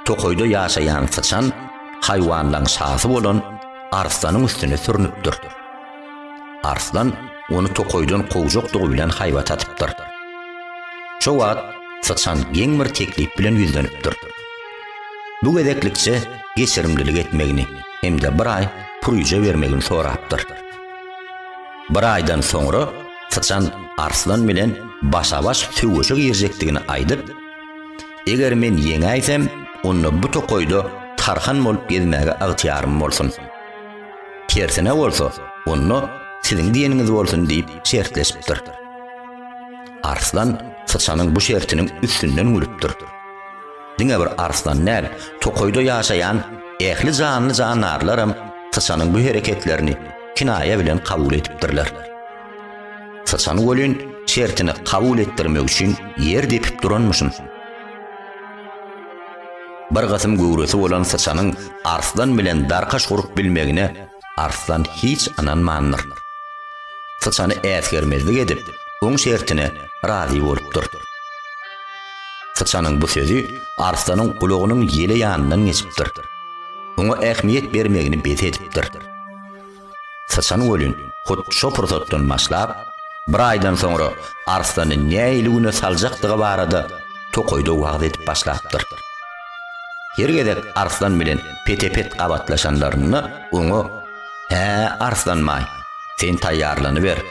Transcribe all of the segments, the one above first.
tokaýda ýaşaýan syçan haýwanlaryň şasy bolan arslanyň üstüne sürnüpdir. Arslan ony tokaýdan kowjakdygy bilen haýbat atypdyr. Şo wagt syçan geň bir teklip bilen ýüzlenipdir. Bu gezeklikçe geçirimlilik etmegini hem-de bir aý pürüje bermegini sorapdyr. Bir aýdan soňra syçan arslan bilen başa-baş söweşe girjekdigini aýdyp, Eger men ýeňäýsem, onda bu tokaýda tarhan bolup gezmäge ygtyýarym bolsun. Tersine bolsa, onda siziň diýeniňiz bolsun diýip şertleşipdir. Arslan syçanyň bu şertiniň üstünden gülüpdir. Diňe bir arslan däl, tokaýda ýaşaýan ähli janly-jandarlaram syçanyň bu hereketlerini kinaýa bilen kabul edipdirler. Syçan welin şertini kabul etdirmek üçin ýer depip duranmyşyn. Bir gysym göwresi bolan syçanyň Arslan bilen darkaş gurup bilmegine Arslan hiç ynanmandyr. Syçany äsgermezlik edip, oň şertine razy bolupdyr. Syçanyň bu sözi Arslanyň gulagynyň ýele ýanyndan geçipdir. Oňa ähmiýet bermegini bes edipdir. Syçan welin, hut şo pursatdan başlap, bir aýdan soňra Arslany nähili güne saljakdygy barada tokaýda wagyz edip başlapdyr. Her gezek Arslan bilen pete-pet gabatlaşanlarynda oňa, Hä, Arslanbaý, sen taýýarlanyber.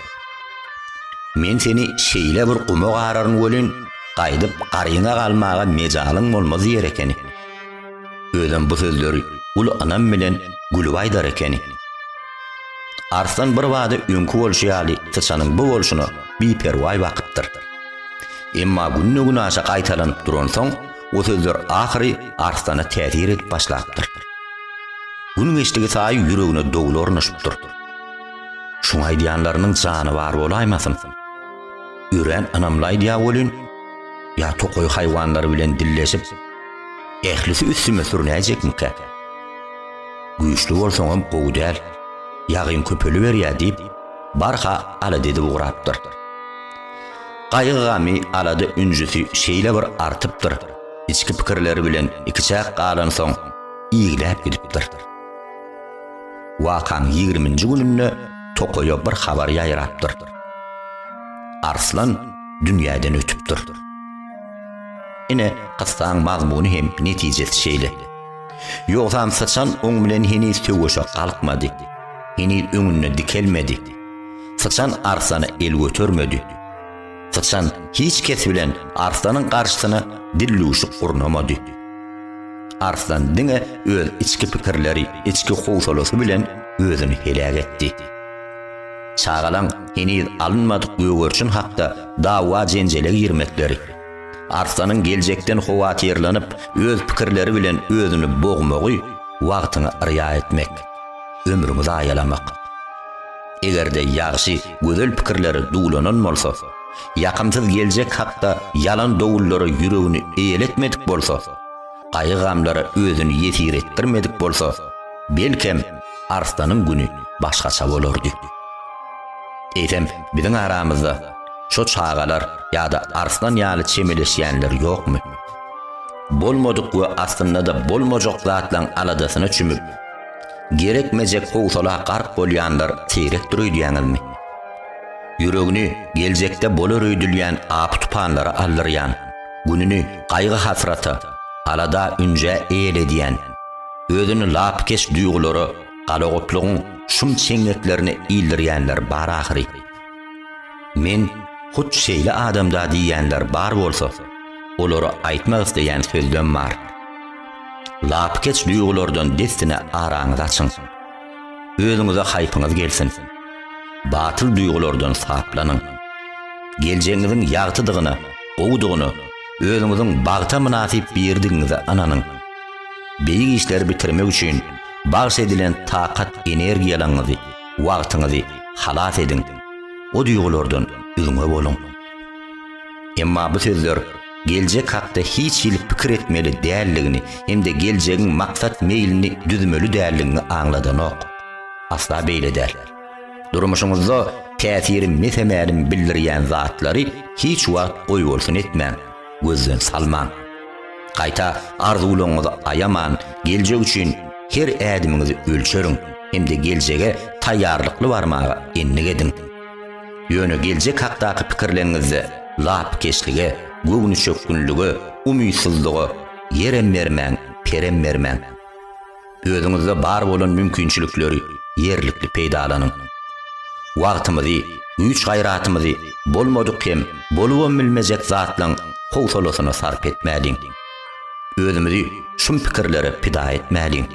Men seni şeýle bir guma gararyn welin, gaýdyp garyňa galmaga mejalyň bolmaz diýer ekeni. Özem bu sözleri uly ynam bilen gülüp aýdar ekeni. Arslan birbada öňki bolşy ýaly syçanyň bu bolşuna biperwaý bakypdyr. Emma günde-günaşa gaýtalanyp duransoň, o sözler ahyry Arslana täsir edip başlapdyr. Gün geçdigi saýy ýüregine dowul ornaşypdyr. Şuň aýdýanlarynyň jany bar bolaýmasyn? Örän ynamly aýdýar welin, ýa tokaý haýwanlary bilen dilleşip, Ählisi üstüme sürünäýjekmikä? Güýçli bolsaňam gowy däl. Ýagyn köpeliberýär diýip, barha alada edip ugrapdyr. Gaýgy-gamy, alada-ünjüsi şeýle bir artypdyr, içki pikirleri bilen ikiçäk galansoň, igläp gidipdir. Wakaň ýigriminji gününde tokaýa bir habar ýaýrapdyr. Arslan dünýäden ötüpdir. Ine, kyssaň mazmuny hem netijesi şeýle. Ýogsam syçan oň bilen heniz söweşe galkmady. Heniz öňünde dikelmedi. Syçan arslana el götermedi. Syçan hiç kes bilen arslanyň garşysyna dillüwşük gurnamady. Arslan diňe öz içki pikirleri, içki howsalasy bilen özüni heläk etdi. Çagalaň heniz alynmadyk gögerişin hakda dawa-jenjele girmekleri, Arslanyň geljekden howatyrlanyp, öz pikirleri bilen özüni bogmagy wagtyňy yrýa etmek, ömrüňi zaýalamak. Eger-de ýagşy, gözel pikirleri duwlanan bolsa, ýakymsyz geljek hakda ýalan dowullary ýüregini eýeletmedik bolsa, gaýgy-gamlara özüni ýesir etdirmedik bolsa, belkem, Arslanyň güni başgaça bolardy. Eýsem, biziň aramyzda şo çagalar ýa-da Arslan ýaly çemeleşýänler ýokmy? Bolmadyk we aslynda-da bolmajak zatlaryň aladasyna çümüp, gerekmejek howsala gark bolýanlar seýrekdir öýdýäňizmi? Ýüregini geljekde bolar öýdülýän apy-tupanlara aldyrýan, Gününi gaýgy-hasrata, alada-ünjä eýledýän, özüni lapykeç duýgulara, galagoplugyň şum çeňňeklerine ildirýänler bar ahyry. Men hut şeýle adam-da diýýänler bar bolsa, olara aýtmak isleýän sözlem bar. Lapykeç duýgulardan dessine araňyzy açyň. Özüňize haýpyňyz gelsin. Batyl duýgulardan saplanyň. Geljegiňiziň ýagtydygyna, gowudygyna, özüňiziň bagta mynasyp biridigiňize ynanyň. Beýik işleri bitirmek üçin bagş edilen takat energiýalaňyzy, wagtyňyzy halas ediň. O duýgulardan üzňe boluň. Emma bu sözler geljek hakda hiç hili pikir etmeli däldigini hem-de geljegiň maksat meýlini düzmeli däldigiňi aňladanok. Asla beýle däl. Durmuşyňyzda täsiri mese-mälim bildirýän zatlary hiç wagt goýbolsun etmäň, gözden salmaň. Gaýta, arzuwlaryňyzy aýaman, geljek üçin her ädimiňizi ölçeriň hem-de geljege taýýarlykly barmaga endik ediň. Ýöne geljek hakdaky pikirleriňizde lapykeçlige, göwnüçökgünlige, umytsyzlyga ýerem bermäň, perem bermäň. Özüňizde bar bolan mümkinçilikleri ýerlikli peýdalanyň. Wagtymyzy, güýç-gaýratymyzy bolmadyk hem bolubam bilmejek zatlaryň howsalasyna sarp etmäliň. Özümizi şum pikirlere pida etmäliň.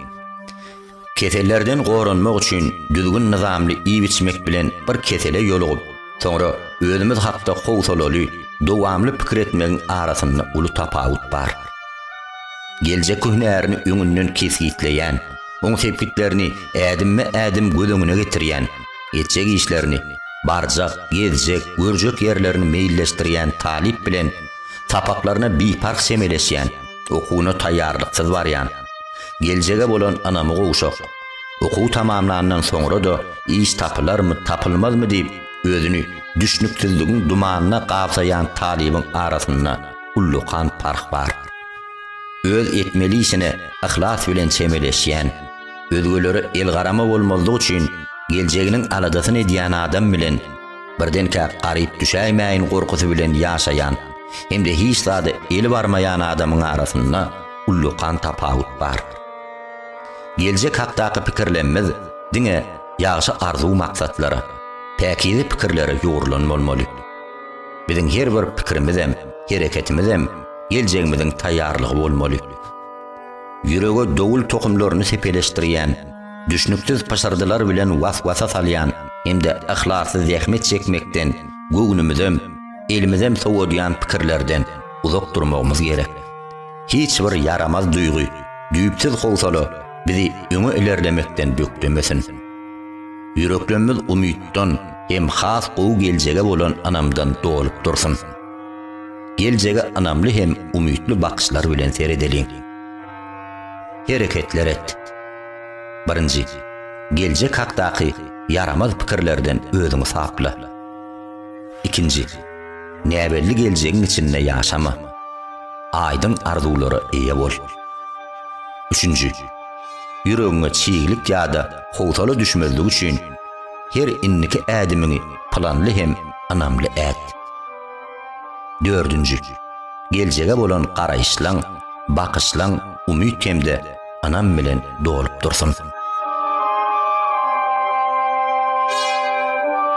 Kesellerden goranmak üçin düzgün-nyzamly iýip-içmek bilen bir kesele ýolugyp, soňra özümiz hakda howsalaly, dowamly pikir etmegiň arasynda uly tapawut bar. Geljek hünärini öňünden kesgitleýän, oň sepgitlerini ädimme-ädim göz öňüne getirýän, etjek işlerini, barjak, gezjek, görjek ýerlerini meýilleşdirýän talyp bilen sapaklaryna biparh çemeleşýän, Okuwyna taýýarlyksyz barýan. Geljege bolan ynamy gowşak. Okuw tamamlandan soňra-da iş tapylarmy, tapylmazmy diýip, özüni düşnüksizligiň dumanyna gabsaýan talybyň arasynda ullakan parh bar. Öz etmeli işine yhlas bilen çemeleşýän, özgelere elgarama bolmazlyk üçin geljeginiň aladasyny edýän adam bilen, Birdenkä garyp düşäýmäýin gorkusy bilen ýaşaýan hem-de hiç zada eli barmaýan adamyň arasynda ullakan tapawut bar. Geljek hakdaky pikirlemmiz diňe ýagşy arzuw-maksatlara, päkize pikirlere ýugrulan bolmaly. Biziň her bir pikirimizem, hereketimizem geljegimiziň taýýarlygy bolmaly. Ýürege dowul tohumlaryny sepeleşdirýän, düşnüksiz pyşyrdylar bilen was-wasa salýan hem-de yhlasly zähmet çekmekden göwnümizem, elimizem sowadýan pikirlerden uzak durmagymyz gerek. Hiç bir ýaramaz duýgy, düýpsüz howsala bizi öňe ilerlemekden bökdemesin. Ýüreklemmiz umytdan hem has gowy geljege bolan ynamdan dolup dursun. Geljege ynamly hem umytly bakyşlar bilen seredeliň. Hereketler et. Birinji, geljek hakdaky ýaramaz pikirlerden özüňi sapla. Ikinji, näbelli geljegiň içinde ýaşama. Aýdyň arzuwlara eýe bol. Üçünji, ýüregiňe çiglik ýa-da howsala düşmezligi üçin, her indiki ädimiňi planly hem ynamly et. Dördünji, geljege bolan garaýyşlaň, bakyşlaň umyt hem-de ynam bilen dolup dursun.